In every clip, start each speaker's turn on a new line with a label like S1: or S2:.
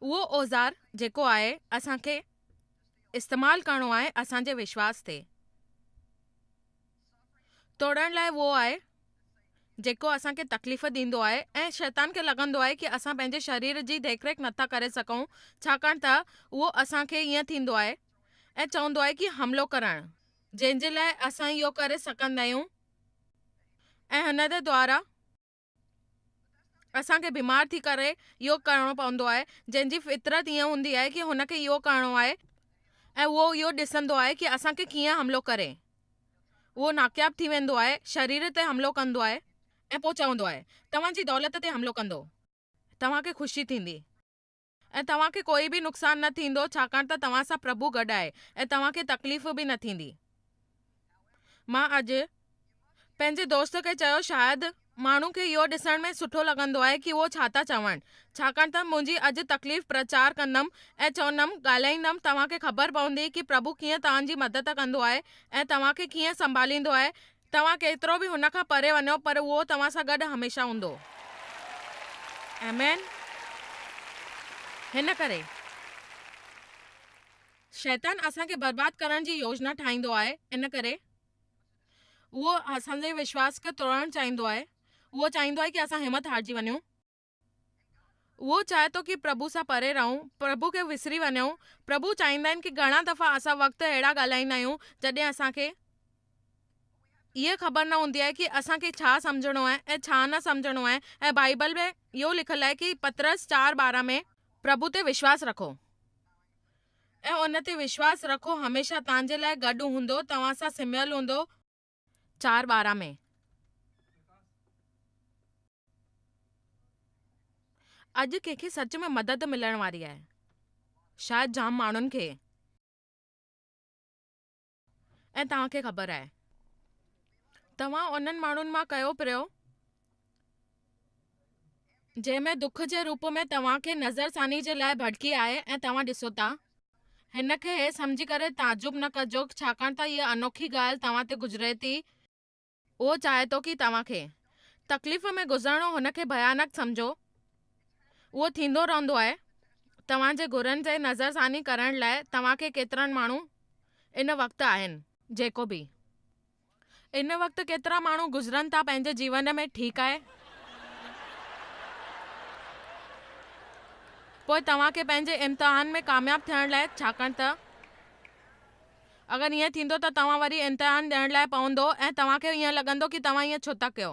S1: اهو اوزار جيڪو آهي اسان کي استعمال ڪرڻو آهي اسان جي وشواس تي. توڙڻ لاء اهو آهي جيڪو اسان کي تڪليف ڏيندو آهي ۽ شيطان کي لڳندو آهي ڪي اسان پنهنجي شرير جي ديک ريک نٿا ڪري سگهون ڇاڪاڻ ته اهو اسان کي ايئن ٿيندو آهي ۽ چوندو آهي ڪي حملو ڪرڻ جنهن جي لاء اسان اهو ڪري سگهندا آهيون ۽ هن جي دوارا اسان کي بيمار ٿي ڪري يوگ ڪرڻو پوندو آهي جنهن جي فطرت ائين هوندي آهي ڪي هن کي يوگ ڪرڻو آهي ۽ اهو اهو ڏسندو آهي ڪي اسان کي ڪيئن حملو ڪري اهو ناڪياب ٿي ويندو آهي شرير تي حملو ڪندو آهي ۽ پوء چوندو آهي توهان جي دولت تي حملو ڪندو توهان کي خوشي ٿيندي. ۽ توهان کي ڪوئي به نقصان نه ٿيندو، ڇاڪاڻ ته توهان سان پرڀو گڏ آهي ۽ توهان کي تڪليف به نه ٿيندي. مان اڄ پنهنجي دوست کي چيو، شايد ماڻهن کي اهو ڏسڻ ۾ سٺو لڳندو آهي ڪي اهو ڇا ٿا چون، ڇاڪاڻ ته منهنجي اڄ تڪليف پرچار ڪندم ۽ چوندم، ڳالهائيندم، توهان کي خبر پوندي ڪي پرڀو ڪيئن توهان جي مدد ڪندو آهي ۽ توهان کي ڪيئن سنڀاليندو آهي ۽ توهان ڪيترو به هن کان پري وڃو پر اهو توهان سان گڏ هميشه هوندو. آمين. هن ڪري شيطان اسان کي برباد ڪرڻ جي يوجنا ٺاهيندو آهي ان ڪري اهو اسان جي وشواس کي ٽوڙڻ چاهيندو آهي اهو چاهيندو آهي ڪي اسان همت هارجي وڃون. اهو چاهي ٿو ڪي پرڀو سان پري رهون، پرڀو کي وسري وڃون، پرڀو چاهيندا آهن ڪي گهڻا دفعا اسان وقت اهڙا ڳالهائيندا آهيون جڏهن اسان کي اهي خبر نه هوندي آهي ڪي اسان کي ڇا سمجهڻو آهي ۽ ڇا نه سمجهڻو آهي ۽ بائيبل ۾ اهو لکيل آهي ڪي پطرس چار ٻارهن ۾، پرڀو تي وشواس رکو ۽ ان تي وشواس رکو هميشه تانجي لاء گڏ هوندو توهان سان سمهيل هوندو، چار ٻارهن ۾. اڄ ڪنهن کي سچ ۾ مدد ملڻ واري آهي. شايد جام ماڻهن کي. ۽ توهان کي خبر آهي. توهان انهن ماڻهن مان ڪيو پريو جنهن ۾ دک جي روپ ۾ توهان کي نظر ثاني جي لاء ڀڙڪي آهي ۽ توهان ڏسو ٿا. هن کي هي سمجهي ڪري تعجب نه ڪجو ڇاڪاڻ ته هيء انوکي ڳالهه توهان تي گذري ٿي. اهو چاهي ٿو ڪي توهان کي تڪليف ۾ گذرڻو هن کي ڀيانڪ سمجهو. اهو ٿيندو رهندو آهي. توهان جي گهرن جي نظر ثاني ڪرڻ لاء توهان کي ڪيترن ماڻهو ان وقت آهن. جيڪو به ان وقت ڪيترا ماڻهو گذرن ٿا پنهنجي جيون ۾، ٺيڪ آهي. پوء توهان کي پنهنجي امتحان ۾ ڪامياب ٿيڻ لاء ڇاڪاڻ ته اگر ائين ٿيندو ته توهان وري امتحان ڏيڻ لاء پوندو ۽ توهان کي ائين لڳندو ڪي توهان ائين ڇو ٿا ڪيو.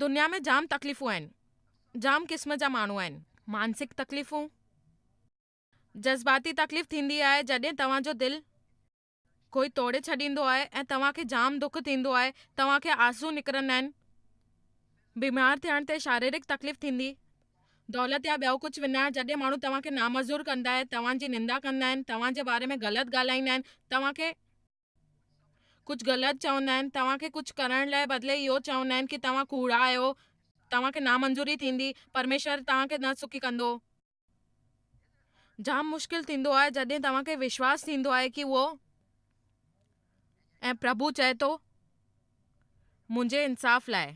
S1: دنيا ۾ جام تڪليفون آهن. جام قسم جا ماڻهو آهن. مانسڪ تڪليفون، جذباتي تڪليف ٿيندي آهي جڏهن توهان جو دل ڪوئي ٽوڙي ڇڏيندو آهي ۽ توهان کي جام دک ٿيندو آهي، توهان کي آنسو نڪرندا آهن. بيمار ٿيڻ تي شاريرڪ تڪليف ٿيندي، دولت يا ٻيو ڪجهه وڃائڻ جڏهن ماڻهو توهان کي نامزور ڪندا آهن، توهان جي نندا ڪندا آهن، توهان جي باري ۾ غلط ڳالهائيندا آهن، توهان کي ڪجهه غلط چوندا آهن توهان کي ڪجهه ڪرڻ لاء بدلي اهو چوندا آهن ڪي توهان ڪوڙا آهيو توهان کي نامنظوري ٿيندي پرميشور توهان کي نه سکي ڪندو جام مشڪل ٿيندو آهي جڏهن توهان کي وشواس ٿيندو آهي ڪي اهو ۽ پرڀو چئي ٿو منهنجي انصاف لاء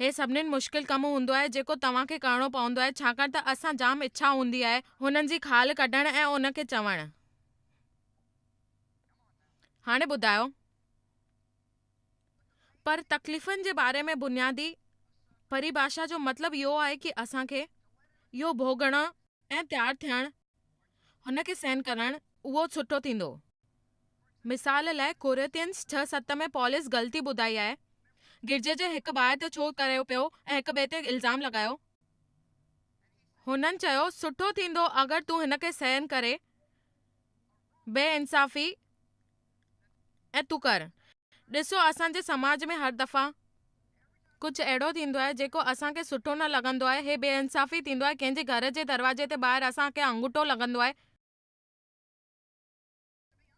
S1: هي سڀني مشڪل ڪم هوندو آهي جيڪو توهان کي ڪرڻو پوندو آهي ڇاڪاڻ ته اسان جام اڇا هوندي آهي هنن جي خال ڪڍڻ ۽ ان کي چوڻ هاڻي ٻڌايو پر تڪليفن جي باري ۾ بنيادي پريڀاشا جو مطلب اهو آهي ڪي اسان کي اهو ڀوڳڻ ۽ تيار ٿيڻ هن کي سهن ڪرڻ اهو سٺو ٿيندو مثال لاء ڪوريتينس ڇهه ست ۾ پولس غلطي ٻڌائي آهي گرجي جي هڪ ڀاء تي ڇو ڪريو پيو ۽ هڪ ٻئي تي الزام لڳايو هنن چيو سٺو ٿيندو اگر تون هن کي سهن ڪري بي انصافي ۽ تڪر ڏسو اسان جي سماج ۾ هر دفعا ڪجهه اهڙو ٿيندو آهي جيڪو اسان کي سٺو نه لڳندو آهي هي بي انصافي ٿيندو آهي ڪنهن جي گهر جي دروازي تي ٻاهر اسان کي انگوٺو لڳندو آهي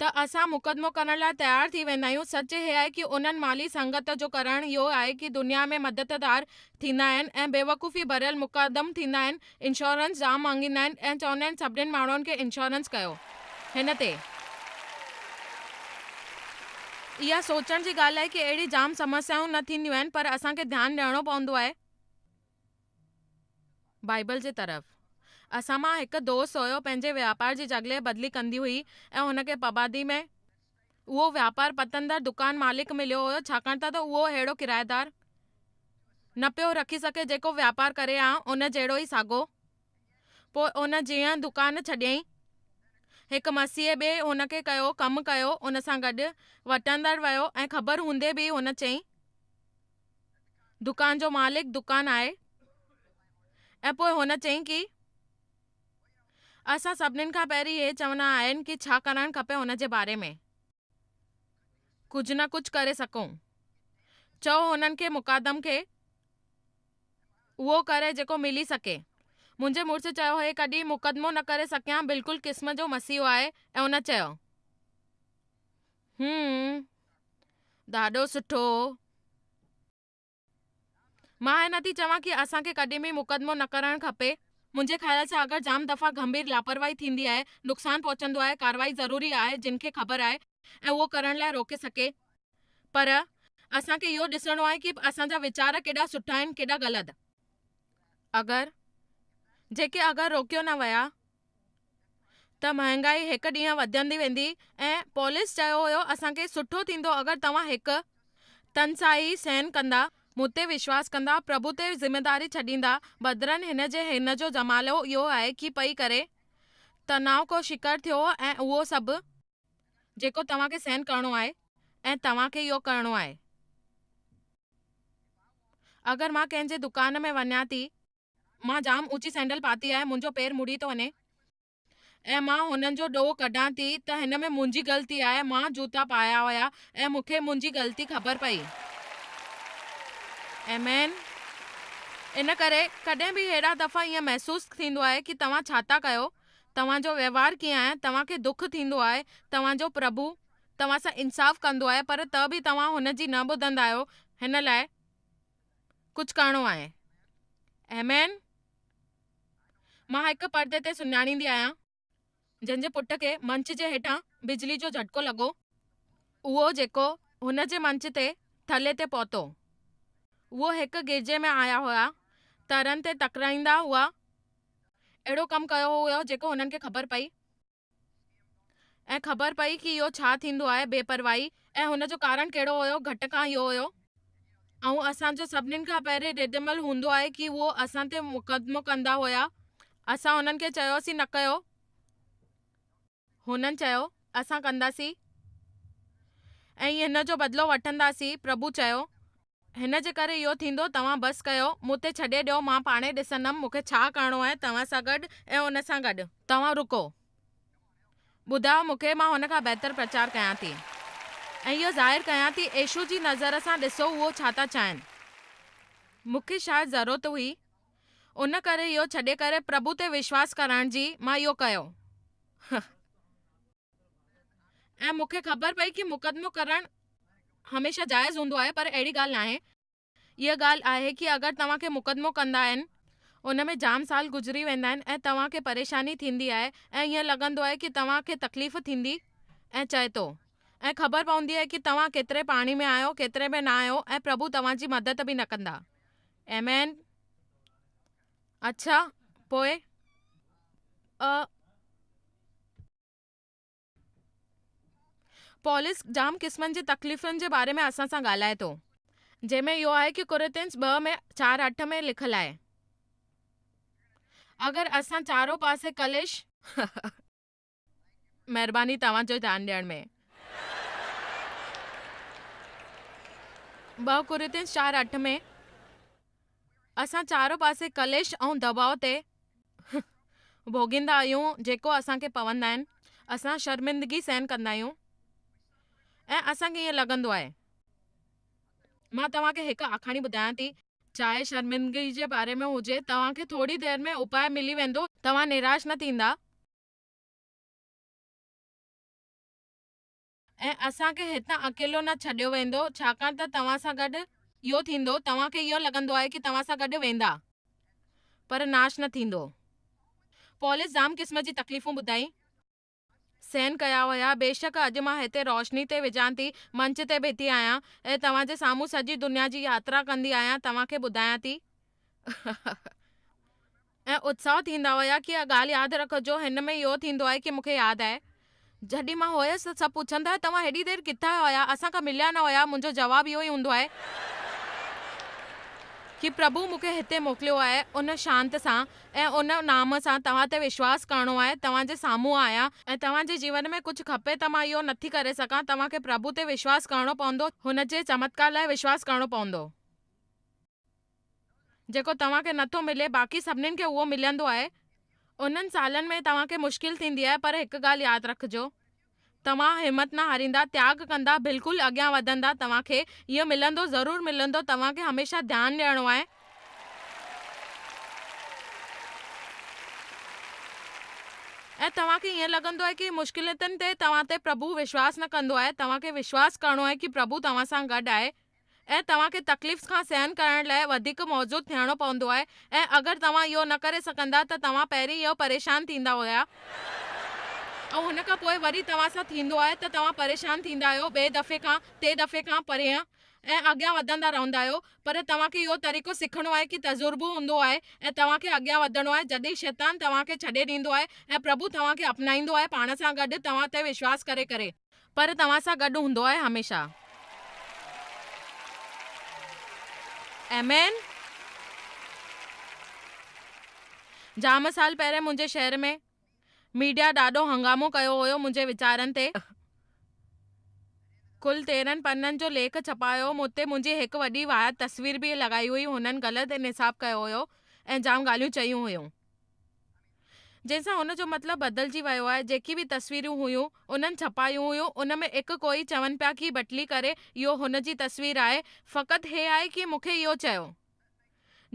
S1: ته اسان مقدمو ڪرڻ لاء تيار ٿي ويندا آهيون سچ هي آهي ڪي انهن مالي سنگت جو ڪرڻ اهو آهي ڪي دنيا ۾ مدددار ٿيندا آهن ۽ بيوقوفي ڀريل مقدم ٿيندا آهن انشورنس جام مانگيندا آهن ۽ چوندا آهن سڀني ماڻهن کي انشورنس ڪيو هن تي اها سوچڻ جي ڳالهه آهي ڪي اهڙي جام سمسيائون نه ٿينديون آهن پر اسان کي ڌيان ڏيڻو پوندو آهي بائيبل جي طرف اسان مان هڪ دوست هيو پنهنجي واپار جي جڳلهه بدلي ڪندي هئي ۽ هن کي پبادي ۾ اهو واپار پتندڙ دڪان مالڪ مليو هيو ڇاڪاڻ ته اهو اهڙو ڪرائيدار نه پيو رکي سگهي جيڪو واپار ڪري ها ان جهڙو ئي ساڳو. پوء ان جيئن دڪان ڇڏيائين. هڪ مسيحي ٻئي هن کي ڪيو ڪم ڪيو ان سان گڏ وٽندڙ ويو ۽ خبر هوندي به هن چئي دڪان جو مالڪ دڪان آهي ۽ پوء هن چئي ڪي اسان سڀنين کان پهرين هي چوندا آهن ڪي ڇا ڪرڻ کپي ان جي باري ۾ ڪجهه نه ڪجهه ڪري سگهون. چئو هنن کي مقدم کي اهو ڪري جيڪو ملي سگهي. منهنجي مڙس چيو هي ڪڏهن مقدمو نه ڪري سگهيان بلڪل قسم جو مسيحو آهي ۽ ان چيو. هم ڏاڍو سٺو. مان هيء نه ٿي چوان ڪي اسان کي ڪڏهن به مقدمو نه ڪرڻ کپي. منهنجي خيال سان اگر جام دفعا گنڀير لاپرواهي ٿيندي آهي، نقصان پهچندو آهي، ڪارروائي ضروري آهي جن کي خبر آهي ۽ اهو ڪرڻ لاء روڪي سگهي. پر اسان کي اهو ڏسڻو آهي ڪي اسان جا ويچار ڪيڏا سٺا آهن ڪيڏا غلط. اگر جيڪي اگر روڪيو نه ويا ته مهانگائي هڪ ڏينهن وڌندي ويندي ۽ پولس چيو هيو اسان کي سٺو ٿيندو اگر توهان هڪ تنسائي سهن ڪندا، مون تي وشواس ڪندا، پرڀو تي ذميداري ڇڏيندا، بدرن هن جي هن جو جمالو اهو آهي ڪي پئي ڪري تناء ڪو شڪر ٿيو ۽ اهو سڀ. جيڪو توهان کي سهن ڪرڻو آهي ۽ توهان کي اهو ڪرڻو آهي اگر مان ڪنهن جي دڪان ۾ وڃان ٿي. مان جام اوچي سينڊل پاتي آهي، منهنجو پير مڙي ٿو وڃي. ۽ مان هنن جو ڏوهه ڪڍان ٿي ته هن ۾ منهنجي غلطي آهي، مان جوتا پايا هيا ۽ مون کي منهنجي غلطي خبر پئي. آمين. ان ڪري ڪڏهن به هيڏا دفعا ائين محسوس ٿيندو آهي ڪي توهان ڇا ٿا ڪيو، توهان جو وهنوار ڪيئن آهي، توهان کي دک ٿيندو آهي، توهان جو پرڀو توهان سان انصاف ڪندو آهي پر ته به توهان هن جي نه ٻڌندا آهيو، هن لاء ڪجهه ڪرڻو آهي. ايمين، مان هڪ پردي تي سڃاڻيندي آهيان، جنهن جي پٽ کي منچ جي هيٺان بجلي جو جهٽڪو لڳو، اهو جيڪو هن جي منچ تي ٿلهي تي پهتو. اهو هڪ گرجي ۾ آيا هيا، ترن تي تڪرائيندا هئا، اهڙو ڪم ڪيو هيو جيڪو هنن کي خبر پئي. ۽ خبر پئي ڪي اهو ڇا ٿيندو آهي بي پرواهي ۽ هن جو ڪارڻ ڪهڙو هيو گهٽ کان اهو هيو ۽ اسان جو سڀنين کان پهرين ردعمل هوندو آهي ڪي اهو اسان تي مقدمو ڪندا هيا اسان هنن کي چيوسين نه ڪيو هنن چيو اسان ڪنداسين ۽ هن جو بدلو وٺنداسين پرڀو چيو هن جي ڪري اهو ٿيندو. توهان بس ڪيو. مون تي ڇڏي ڏيو. مان پاڻهي ڏسندم مون کي ڇا ڪرڻو آهي توهان سان گڏ ۽ ان سان گڏ. توهان رڪو. ٻڌايو مون کي. مان هن کان بهتر پرچار ڪيان ٿي ۽ اهو ظاهر ڪيان ٿي. عيشو جي نظر سان ڏسو اهو ڇا ٿا چاهين. مون کي شايد ضرورت هئي ان ڪري اهو ڇڏي ڪري پرڀو تي وشواس ڪرائڻ جي مان اهو ڪيو. ۽ مون کي خبر پئي ڪي مقدمو ڪرڻ هميشه جائز هوندو آهي پر اهڙي ڳالهه ناهي اها ڳالهه آهي ڪي اگر توهان کي مقدمو ڪندا آهن ان ۾ جام سال گذري ويندا آهن ۽ توهان کي پريشاني ٿيندي آهي ۽ ايئن لڳندو آهي ڪي توهان کي تڪليف ٿيندي ۽ چئي ٿو ۽ خبر پوندي آهي ڪي توهان ڪيتري پاڻي ۾ آهيو ڪيتري ۾ نه آهيو ۽ پرڀو توهان جي مدد به نه ڪندا ايمين اڇا پوء ا پولس جام قسمن جي تڪليفن جي باري ۾ اسان سان ڳالهائي ٿو جنهن ۾ اهو آهي ڪي ڪورنٿينس ٻه ۾ چار اٺ ۾ لکيل آهي اگر اسان چارو پاسي ڪليش مهرباني توهان جو ڌيان ڏيڻ ۾. ٻه ڪورنٿينس چار اٺ ۾ اسان چارو پاسي ڪليش ۽ دٻاء تي ڀوڳيندا آهيون جيڪو اسان کي پوندا آهن اسان شرمندگي سهن ڪندا آهيون ۽ اسان کي ائين لڳندو آهي مان توهان کي هڪ آکاڻي ٻڌايان ٿي چاهي شرمندگي جي باري ۾ هجي توهان کي ٿوري دير ۾ اپاء ملي ويندو توهان نراش نه ٿيندا ۽ اسان کي هتان اڪيلو نه ڇڏيو ويندو، ڇاڪاڻ ته توهان سان گڏ اهو ٿيندو، توهان کي اهو لڳندو آهي ڪي توهان سان گڏ ويندا، پر ناش نه ٿيندو. پولس جام قسم جي تڪليفون ٻڌائي. سهن ڪيا هيا، بيشڪ اڄ مان هتي روشني تي وجهان ٿي، منچ تي بيٺي آهيان، ۽ توهان جي سامهون سڄي دنيا جي ياترا ڪندي آهيان، توهان کي ٻڌايان ٿي، ۽ اتساهه ٿيندا هيا ڪي اها ڳالهه ياد رکجو هن ۾ اهو ٿيندو آهي ڪي مون کي ياد آهي جڏهن مان هيس ته سڀ پڇندا هيا توهان هيڏي دير ڪٿان هيا اسان کان مليا نه هيا منهنجو جواب اهو ئي هوندو آهي ڪي پرڀو مون کي هتي موڪليو آهي ان شانت سان ۽ ان نام سان توهان تي وشواس ڪرڻو آهي توهان جي سامهون آهيان ۽ توهان جي جيون ۾ ڪجهه کپي ته مان اهو نٿي ڪري سگهان توهان کي پرڀو تي وشواس ڪرڻو پوندو هن جي چمتڪار لاء وشواس ڪرڻو پوندو. جيڪو توهان کي نٿو ملي باقي سڀنين کي اهو ملندو آهي. انهن سالن ۾ توهان کي مشڪل ٿيندي آهي پر هڪ ڳالهه ياد رکجو توهان همت نه هاريندا تياڳ ڪندا بلڪل اڳيان وڌندا توهان کي اهو ملندو ضرور ملندو توهان کي هميشه ڌيان ڏيڻو آهي. ۽ توهان کي ائين لڳندو آهي ڪي مشڪلتن تي توهان تي پرڀو وشواس نه ڪندو آهي توهان کي وشواس ڪرڻو آهي ڪي پرڀو توهان سان گڏ آهي. ۽ توهان کي تڪليفس کان سهن ڪرڻ لاء وڌيڪ موزود ٿيڻو پوندو آهي ۽ اگر توهان اهو نه ڪري سگهندا ته توهان پهرين ئي پريشان ٿيندا هيا ۽ ان کان پوء وري توهان سان ٿيندو آهي ته توهان پريشان ٿيندا آهيو ٻئي دفعي کان ٽي دفعي کان پرينء ۽ اڳيان وڌندا رهندا آهيو پر توهان کي اهو طريقو سکڻو آهي ڪي تجربو هوندو آهي ۽ توهان کي اڳيان وڌڻو آهي جڏهن شيطان توهان کي ڇڏي ڏيندو آهي ۽ پرڀو توهان کي اپنائيندو آهي پاڻ سان گڏ توهان تي وشواس ڪري ڪري پر توهان سان گڏ هوندو آهي هميشه. آمين. جام سال پهرين منهنجي شهر ۾ ميڊيا ڏاڍو هنگامو ڪيو هيو منهنجي ويچارن تي. ڪل تيرهن پنن جو ليک ڇپايو مون تي منهنجي هڪ وڏي واهيات تصوير به لڳائي هئي هنن غلط نصاب ڪيو هيو ۽ جام ڳالهيون چيون هيون. جنهن سان هن جو مطلب بدلجي ويو آهي، جيڪي به تصويرون هيون، انهن ڇپايون هيون، ان ۾ اک ڪوئي چون پيا ڪي بٽلي ڪري اهو هن جي تصوير آهي، فقط هي آهي ڪي مون کي اهو چيو.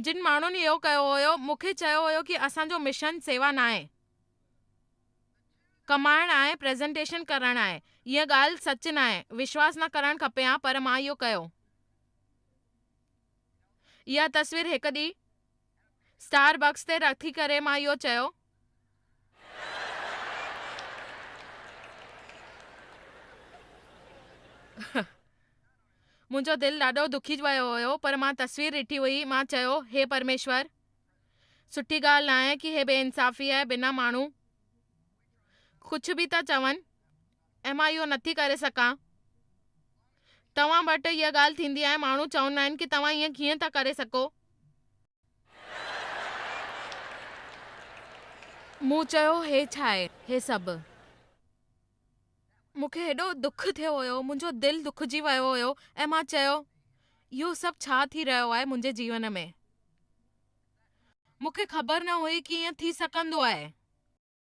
S1: جن ماڻهن اهو ڪيو هيو، مون کي چيو هيو ڪي اسان جو مشن سيوا ناهي، ڪمائڻ آهي، پريزنٽيشن ڪرڻ آهي. اها ڳالهه سچ ناهي، وشواس نه ڪرڻ کپي ها پر مان اهو ڪيو. اها تصوير هڪ ڏينهن. اسٽار بڪس تي رٿي ڪري مان اهو چيو. منهنجو دل ڏاڍو دکي ويو هيو پر مان تصوير ڏٺي هئي. مان چيو، هي پرميشور! سٺي ڳالهه ناهي ڪي هي بي انصافي آهي بنا ماڻهو ڪجهه به ٿا چون. ۽ مان اهو نٿي ڪري سگهان. توهان وٽ اها ڳالهه ٿيندي آهي، ماڻهو چوندا آهن ڪي توهان ائين ڪيئن ٿا ڪري سگهو؟ مون چيو هي ڇا آهي هي سڀ؟ مون کي هيڏو دک ٿيو هيو، منهنجو دل دکجي ويو هيو ۽ مان چيو اهو سڀ ڇا ٿي رهيو آهي منهنجي جيون ۾؟ مون کي خبر نه هئي ڪي ائين ٿي سگهندو آهي.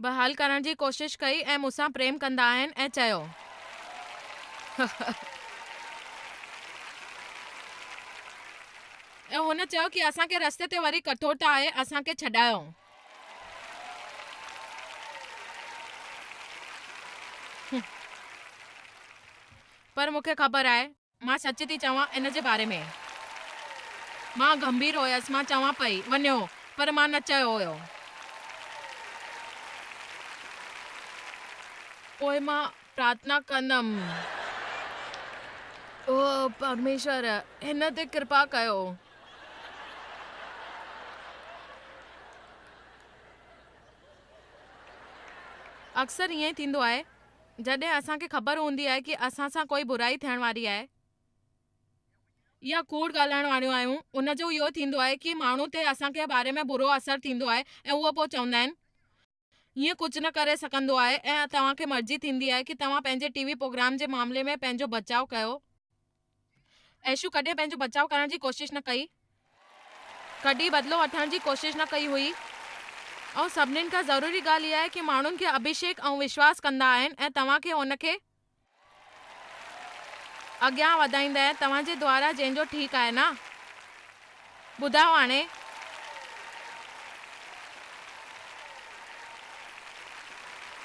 S1: بحال ڪرڻ جي ڪوشش ڪئي ۽ مون سان پريم ڪندا آهن ۽ چيو. ۽ هن چيو ڪي اسان کي رستي تي وري ڪٺوڙتا آهي اسان کي ڇڏايو. پر مون کي خبر آهي. مان سچ ٿي چوان ان جي باري ۾. مان گنڀير هيس، مان چوان پئي، وڃو. پر مان نه چيو هيو. پوء مان پرارٿنا ڪندم، او پرميشور، هن تي ڪرپا ڪيو. اڪثر ائين ئي ٿيندو آهي. جڏهن اسان کي خبر هوندي آهي ڪي اسان سان ڪوئي برائي ٿيڻ واري آهي يا ڪوڙ ڳالهائڻ واريون آهيون ان جو اهو ٿيندو آهي ڪي ماڻهو تي اسان کي باري ۾ برو اثر ٿيندو آهي ۽ اهو پوء چوندا آهن هيئن ڪجهه نه ڪري سگهندو آهي ۽ توهان کي مرضي ٿيندي آهي ڪي توهان پنهنجي ٽي وي پروگرام جي معاملي ۾ پنهنجو بچاء ڪيو. عيشو ڪڏهن پنهنجو بچاء ڪرڻ جي ڪوشش نه ڪئي، ڪڏهن بدلو وٺڻ جي ڪوشش نه ڪئي هئي ۽ سڀني کان ضروري ڳالهه اها آهي ڪي ماڻهن کي اڀيشيڪ ۽ وشواس ڪندا آهن ۽ توهان کي ان کي اڳيان وڌائيندا آهن توهان جي دوارا جنهن جو ٺيڪ آهي نه ٻڌايو هاڻي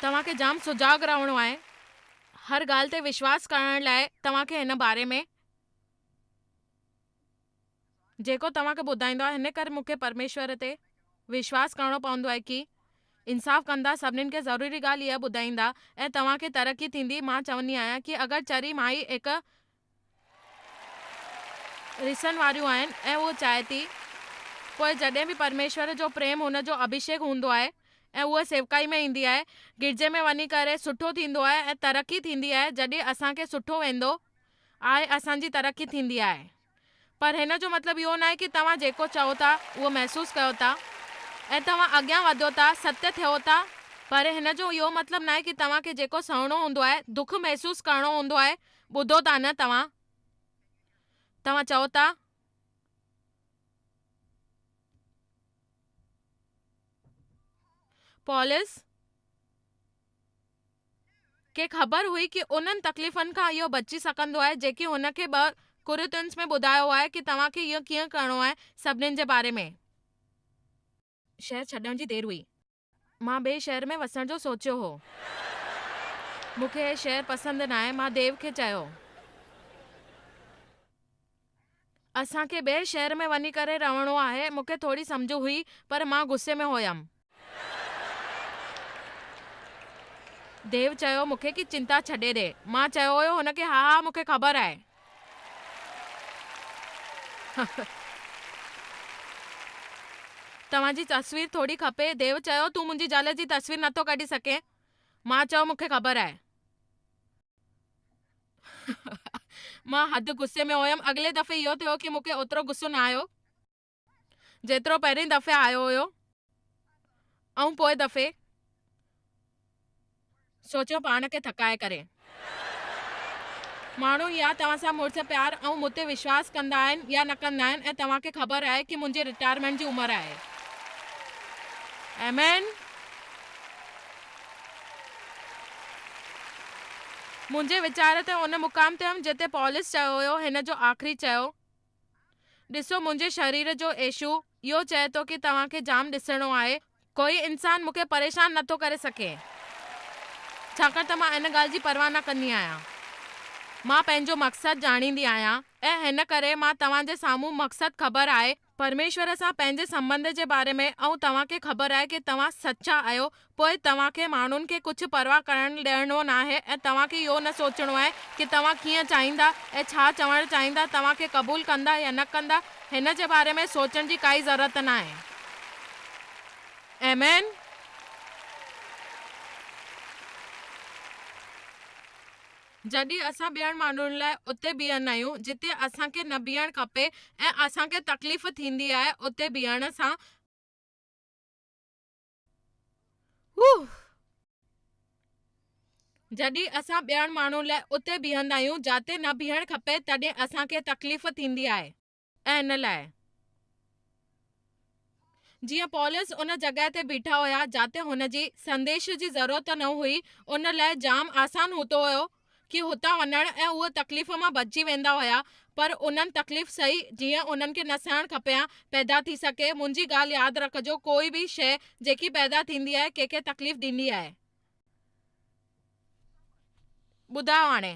S1: توهان کي جام سجاڳ رهڻو آهي هر ڳالهه تي وشواس ڪرڻ لاء توهان کي هن باري ۾ جيڪو توهان کي ٻڌائيندو آهيان هن ڪري مون کي پرميشور تي وشواس ڪرڻو پوندو آهي ڪي انصاف ڪندا سڀنين کي ضروري ڳالهه اها ٻڌائيندا ۽ توهان کي ترقي ٿيندي مان چوندي آهيان ڪي اگر چري مائي هڪ رسڻ واريون آهن ۽ هوء چاهي ٿي پوء جڏهن به پرميشور جو پريم هن جو اڀشيڪ هوندو آهي ۽ هوء سيوڪائي ۾ ايندي آهي گرجي ۾ وڃي ڪري سٺو ٿيندو آهي ۽ ترقي ٿيندي آهي جڏهن اسان کي سٺو ويندو آهي اسان جي ترقي ٿيندي آهي پر هن جو مطلب اهو ناهي ڪي توهان جيڪو چئو ٿا اهو محسوس ڪيو ٿا ۽ توهان اڳيان وڌيو ٿا ستيه ٿيو ٿا پر هن جو اهو مطلب ناهي ڪي توهان کي جيڪو سهڻو هوندو آهي دک محسوس ڪرڻو هوندو آهي ٻڌو ٿا نه توهان؟ توهان چئو ٿا. پولس کي خبر هئي ڪي انهن تڪليفن کان اهو بچي سگهندو آهي جيڪي هن کي ٻه ڪورنٿينس ۾ ٻڌايو آهي ڪي توهان کي اهو ڪيئن ڪرڻو آهي سڀني جي باري ۾. شهر ڇڏڻ جي دير هئي. مان ٻئي شهر ۾ وسڻ جو سوچيو هو. مون کي هي شهر پسند ناهي. مان ديو کي چيو. اسان کي ٻئي شهر ۾ وڃي ڪري رهڻو آهي. مون کي ٿوري سمجهه هئي پر مان غصي ۾ هيم. ديو چيو مون کي ڪي چنتا ڇڏي ڏي. مان چيو هيو هن کي ها ها مون کي خبر آهي. توهان جي تصوير ٿوري کپي. ديو چيو، تون منهنجي زال جي تصوير نه ٿو ڪڍي سگهين؟ مان چيو، مون کي خبر آهي. مان حد غصي ۾ هيم. اڳلي دفعي اهو ٿيو کي مون کي اوترو غصو نه آيو. جيترو پهرين دفعي آيو هيو ۽ پوء دفعي سوچيو پاڻ کي ٿڪائي ڪري. ماڻهو يا توهان سان مڙس پيار ۽ مون تي وشواس ڪندا آهن يا نه ڪندا آهن ۽ توهان کي خبر آهي ڪي منهنجي رٽائرمينٽ جي عمر آهي. آمين. منهنجي ويچار تي ان مقام تي هيم جتي پولس چيو هيو هن جو آخري چيو ڏسو منهنجي شرير جو ايشو اهو چئي ٿو ڪي توهان کي جام ڏسڻو آهي ڪوئي انسان مونکي پريشان نه ٿو ڪري سگهي ڇاڪاڻ ته مان ان ڳالهه جي پرواهه نه ڪندي آهيان مان پنهنجو مقصد ڄاڻيندي آهيان ۽ هن ڪري مان توهان جي سامهون مقصد خبر آهي پرميشور سان پنهنجي سنبنڌ جي باري ۾ ۽ توهان کي خبر آهي ڪي توهان سچا آهيو پوء توهان کي ماڻهن کي ڪجهه پرواهه ڪرڻ ڏيڻو ناهي ۽ توهان کي اهو نه سوچڻو آهي ڪي توهان ڪيئن چاهيندا ۽ ڇا چوڻ چاهيندا، توهان کي قبول ڪندا يا نه ڪندا، هن جي باري ۾ سوچڻ جي ڪائي ضرورت ناهي. آمين. جڏهن اسان ٻين ماڻهن لاء اتي بيهندا آهيون جتي اسان کي نه بيهڻ کپي ۽ اسان کي تڪليف ٿيندي آهي اتي بيهڻ سان، جڏهن اسان ٻيڻ ماڻهن لاء اتي بيهندا آهيون جاتي نه بيهڻ کپي تڏهن اسان کي تڪليف ٿيندي آهي ۽ ان لاء جيئن پولس ان جڳهه تي بيٺا هيا جاتي هن جي سنديش جي ضرورت نه هئي ان لاء جام آسان هوتو هيو ڪي هتان وڃڻ ۽ اهو تڪليف مان بچجي ويندا هيا پر انهن تڪليف سهي جيئن انهن کي نه سهڻ کپيان پيدا ٿي سگهي منهنجي ڳالهه ياد رکجو ڪوئي به شيء جيڪي پيدا ٿيندي آهي ڪي کي تڪليف ڏيندي آهي. ٻڌايو هاڻي.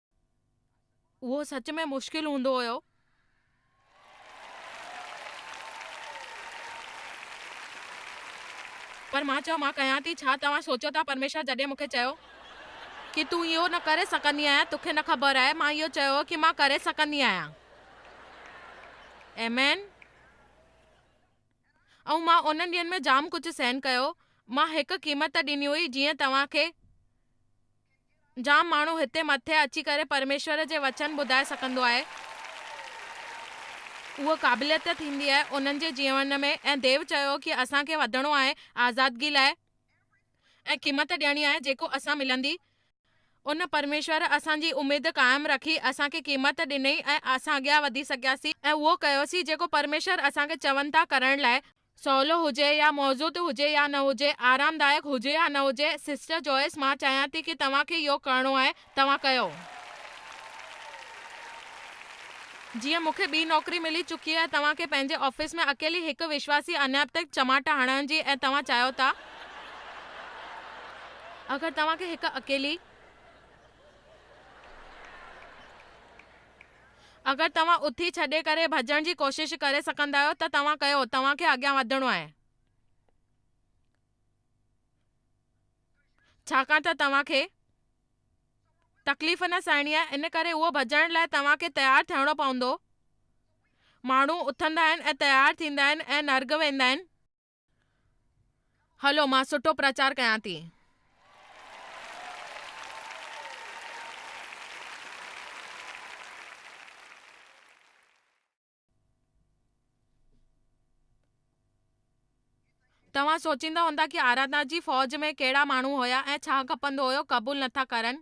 S1: اهو سچ ۾ مشڪل هوندو هيو. پر مان چيو، مان ڪيان ٿي ڇا؟ توهان سوچيو ٿا پرميشور جڏهن مون کي چيو ڪي تون اهو نه ڪري سگهندي آهيان توکي نه خبر آهي مان اهو چيو هو ڪي مان ڪري سگهندي آهيان. آمين. ۽ مان انهن ڏينهن ۾ جام ڪجهه سهن ڪيو مان هڪ قيمت ڏني هئي جيئن توهان کي جام ماڻهو هتي مٿي اچي ڪري پرميشور جي وچن ٻڌائي سگهندو آهي. اهو قابليت ٿيندي آهي انهن جي جيون ۾ ۽ ديو چيو ڪي اسان کي وڌڻو آهي آزادگي لاء ۽ قيمت ڏيڻي آهي جيڪو اسان ملندي ان پرميشور اسان جي اميد قائم رکي اسان کي قيمت ڏنئي ۽ اسان اڳيان وڌي سگهياسين ۽ اهو ڪيوسين جيڪو پرميشور اسان کي چون ٿا ڪرڻ لاء سولو هجي يا موضوع تي هجي يا نه هجي، آرامدائڪ هجي يا نه هجي، سسٽر جوئس مان چاهيان ٿي ڪي توهان کي اهو ڪرڻو آهي، توهان ڪيو. جيئن مون کي ٻي نوڪري ملي چڪي آهي توهان کي پنهنجي آفيس ۾ اڪيلي هڪ وشواسي انيب تي چماٽ هڻڻ جي ۽ توهان چاهيو ٿا اگر توهان کي هڪ اڪيلي اگر توهان اٿي ڇڏي ڪري ڀڄڻ جي ڪوشش ڪري سگهندا آهيو ته توهان ڪيو، توهان کي اڳيان وڌڻو آهي. ڇاڪاڻ ته توهان کي تڪليف نه سهڻي آهي ان ڪري اهو ڀڄڻ لاء توهان کي تيار ٿيڻو پوندو. ماڻهو اٿندا آهن ۽ تيار ٿيندا آهن ۽ نرڳ ويندا آهن. هلو مان سٺو پرچار ڪيان ٿي. توهان سوچيندا هوندا ڪي آراڌنا جي فوج ۾ ڪهڙا ماڻهو هيا ۽ ڇا کپندو هيو قبول نٿا ڪرن.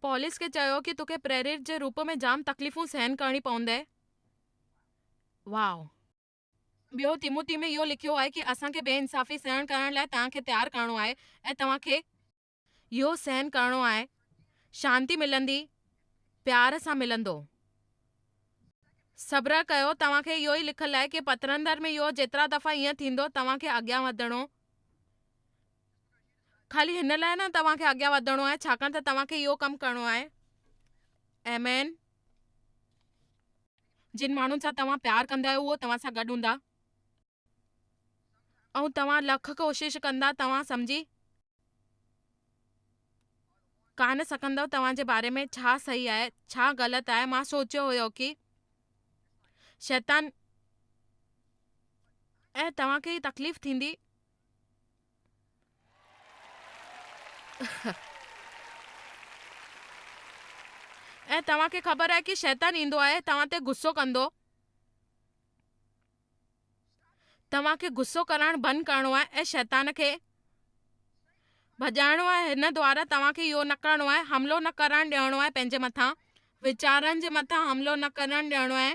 S1: پوليس کي چيو ڪي توکي پريريت جي روپ ۾ جام تڪليفون سهن ڪرڻي پوندي. واء. ٻيو تيموتي ۾ اهو لکيو آهي ڪي اسان کي بي انصافي سهڻ ڪرڻ لاء توهان کي تيار ڪرڻو آهي ۽ توهان کي اهو سهن ڪرڻو آهي شانتي ملندي پيار سان ملندو صبر ڪيو توهان کي اهو ئي لکل آهي ڪي پترندر ۾ اهو جيترا دفعا ائين ٿيندو توهان کي اڳيان وڌڻو خالي هن لاء نه توهان کي اڳيان وڌڻو آهي ڇاڪاڻ ته توهان کي اهو ڪم ڪرڻو آهي ايمين جن ماڻهن سان توهان پيار ڪندا آهيو اهو توهان سان گڏ هوندا ۽ توهان لک ڪوشش ڪندا توهان سمجهي ڪانه سگهندؤ توهان جي باري ۾ ڇا صحيح آهي ڇا غلط آهي مان سوچيو هيو ڪي شيطان ۽ توهان کي تڪليف ٿيندي ۽ توهان کي خبر آهي ڪي شيطان ايندو آهي توهان تي غصو ڪندو توهان کي غصو ڪرڻ بند ڪرڻو آهي ۽ شيطان کي ڀڄائڻو آهي هن دوارا توهان کي اهو نه ڪرڻو آهي حملو نه ڪرڻ ڏيڻو آهي پنهنجي مٿان ويچارن جي مٿان حملو نه ڪرڻ ڏيڻو آهي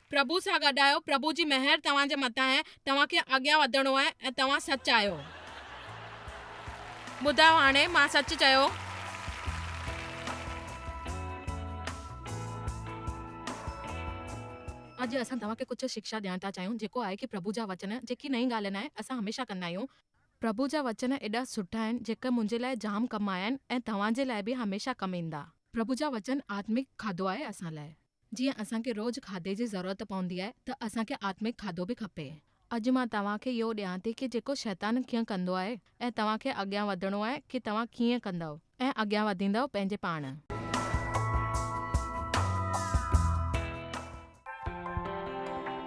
S1: پرڀو سان گڏ آهيو، پرڀو جي مهر توهان جي مٿان آهي، توهان کي اڳيان وڌڻو آهي ۽ توهان سچ آهيو. ٻڌايو هاڻي مان سچ چيو. اڄ اسان توهان کي ڪجهه شڪشا ڏيڻ ٿا چاهيون جيڪو آهي ڪي پرڀو جا وچن جيڪي نئين ڳالهه ناهي اسان هميشه ڪندا آهيون. پرڀو جا وچن ايڏا سٺا آهن جيڪي منهنجي لاء جام ڪم آيا آهن ۽ توهان جي لاء به هميشه ڪم ايندا. پرڀو جا وچن آتمڪ کاڌو آهي اسان لاء. جيئن اسان کي روز کاڌي جي ضرورت پوندي آهي ته اسان کي آتمڪ کاڌو به کپي. اڄ مان توهان کي اهو ڏيان ٿي ڪي جيڪو شيطان ڪيئن ڪندو آهي ۽ توهان کي اڳيان وڌڻو آهي ڪي توهان ڪيئن ڪندؤ ۽ اڳيان وڌيندؤ پنهنجي پاڻ.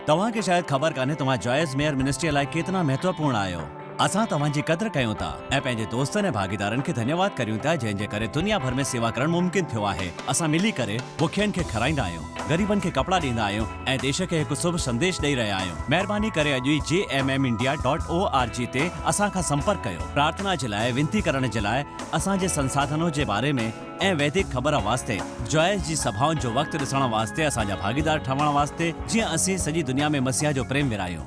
S2: توهان کي شايد خبر ڪانهي توهان جوائس ميئر منسٽريء لاء ڪيترا مهتوپورڻ آهيو. اسان توهان جي قدر ڪيون ٿا ۽ پنهنجي دوستن ۽ ڀاڳيدارن کي ڌنيواد ڪريون ٿا جنهن جي ڪري دنيا ڀر ۾ سيوا ڪرڻ ممڪن ٿيو آهي. اسان ملي ڪري بکين کي کارائيندا آهيون، غريبن کي ڪپڙا ڏيندا آهيون ۽ ديش کي هڪ سڀ سنديش ڏئي رهيا آهيون. مهرباني ڪري اڄ ئي G M M India dot O R G تي اسان کان سمپرڪ ڪيو. پرارٿنا جي لاء، وينتي ڪرڻ جي لاء، اسان جي سنساڌنو جي باري ۾، ۽ ويدڪ خبر واسطي، جوائس جي سڀائن جو وقت ڏسڻ واسطي اسان جا ڀاڳيدار ٺهڻ واسطي جيئن اسين سڄي دنيا ۾ مسيح جو پريم ورهايون.